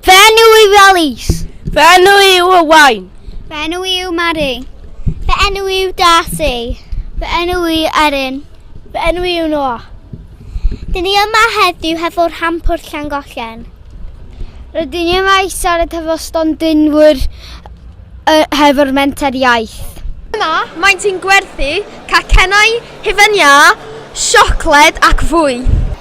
Fy enw yw Alice. Fy enw yw Owain. Fy enw yw Mari. Fy enw yw Darcy. Fy enw yw Erin. Fy enw yw Noah. Dyn ni yma heddiw hefo rhampwr Llangollen. Rydyn ni yma i siarad hefo stondinwyr uh, hefo'r menter iaith. Yma, maent yn gwerthu cacennau, hufen iâ, siocled ac fwy.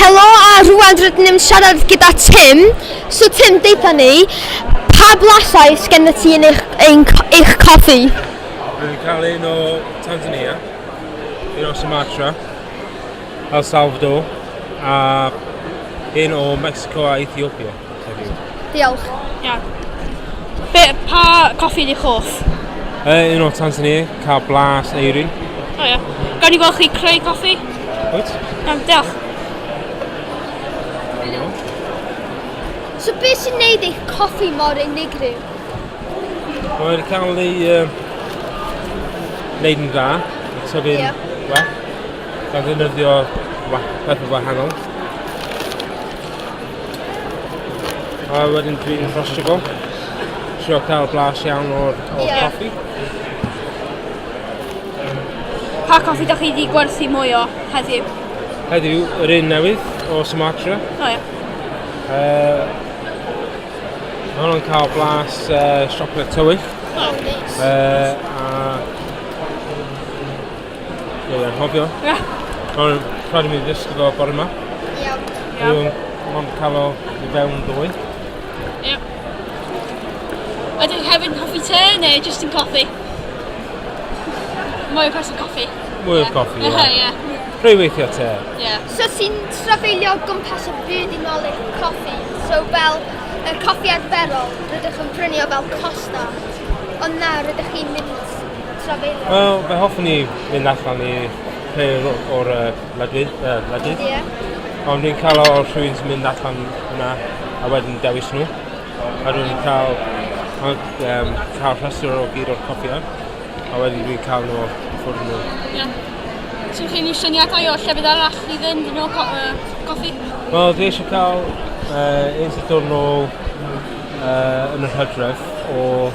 Helo a rwan rydyn ni'n siarad gyda Tim. So Tim, deitha ni, pa blasau sgen y ti yn eich, ein, eich coffi? Dwi'n cael un o Tanzania, un o Sumatra, El Salvador, a un o Mexico a Ethiopia. heddiw? Diolch. Iawn. Be, pa coffi ydych hoff? Uh, un o Tanzania, cael blas eirin. O ia. Gawn ni gweld chi creu coffi? Wyt? Iawn, diolch. So beth sy'n neud eich coffi mor unigryw? Mae'n cael ei uh, wneud yn dda, tyfu'n yeah. well, gan ddefnyddio pethau wahanol. A wedyn dwi'n rhostrygo. Trio cael blas iawn o'r, o'r yeah. coffi. Pa coffi da chi wedi gwerthu mwy o heddiw? Heddiw, yr un newydd o Sumatra. O oh, ie. Yeah. Uh, Mae hwnnw'n cael blas uh, siocled tywyll. Oh, nice. Uh, a Dwi'n anghofio. Ond rhaid i mi ddysgu fo bore yma. Iawn. Iawn. Mae'n cael o i fewn dwy. Iawn. Ydw i hefyd yn coffi te neu jyst yn coffi? Mwy o person coffi. Mwy o coffi, ie. Ie. Rhoi weithio te. Ie. So sy'n trafeilio gwmpas y byd i nol eich coffi. So fel y coffi arferol, rydych yn prynu o fel costa. Ond na, rydych chi'n mynd trafeilio? Wel, fe hoffwn i fynd allan i rhywun o- o'r yy wledydd yy wledydd. Ie. Ond dwi'n cael o o rhywun sy'n mynd allan yna a wedyn dewis nhw. A dwi'n cael a yym cael rhestr o gyd o'r copiau a wedyn dwi'n cael nhw off y ffwrdd nhw. Iawn. Swn chi'n ei syniadau o llefydd arall i fynd yn ôl co- yy goffi? Wel, dwi eisiau cael yy un sy'n dod nôl yy yn yr hydref o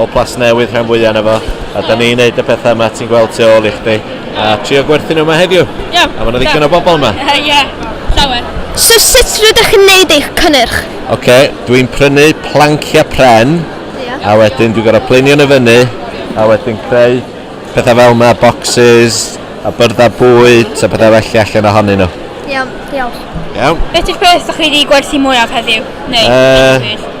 o Plasnewydd rhan fwya na fo, a da ni'n neud y pethau yma ti'n gweld tu ôl i chdi, a trio gwerthu nhw yma heddiw. Ie. A mae yna ddigon o bobl yma. Ie, llawer. So sut rydych yn neud eich cynnyrch? Ok, dwi'n prynu planciau pren, yeah. a wedyn dwi'n gorau plinio nhw fyny, a wedyn creu pethau fel yma, boxes, a byrddau bwyd, a pethau felly allan ohonyn nhw. Iawn, diolch. Iawn. Beth yw'r peth ydych chi wedi gwerthu mwyaf heddiw? Neu, uh,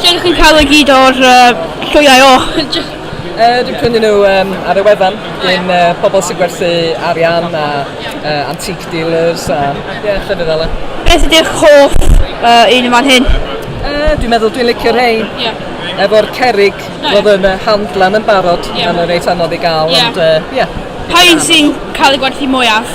Lle dych chi'n cael y gyd o'r llwyau och? Just... Uh, dwi'n prynu nhw um, ar y wefan gyn uh, pobl sy'n gwerthu arian a uh, antique dealers a yeah, llyfr fel Beth ydy'ch hoff uh, un yma'n hyn? Uh, dwi'n meddwl dwi'n licio rhain. Yeah. Efo'r cerig, no, roedd yn uh, handlan yn barod, yeah. mae'n reit anodd i gael, yeah. ond uh, yeah. Pa un sy'n cael ei gwerthu mwyaf?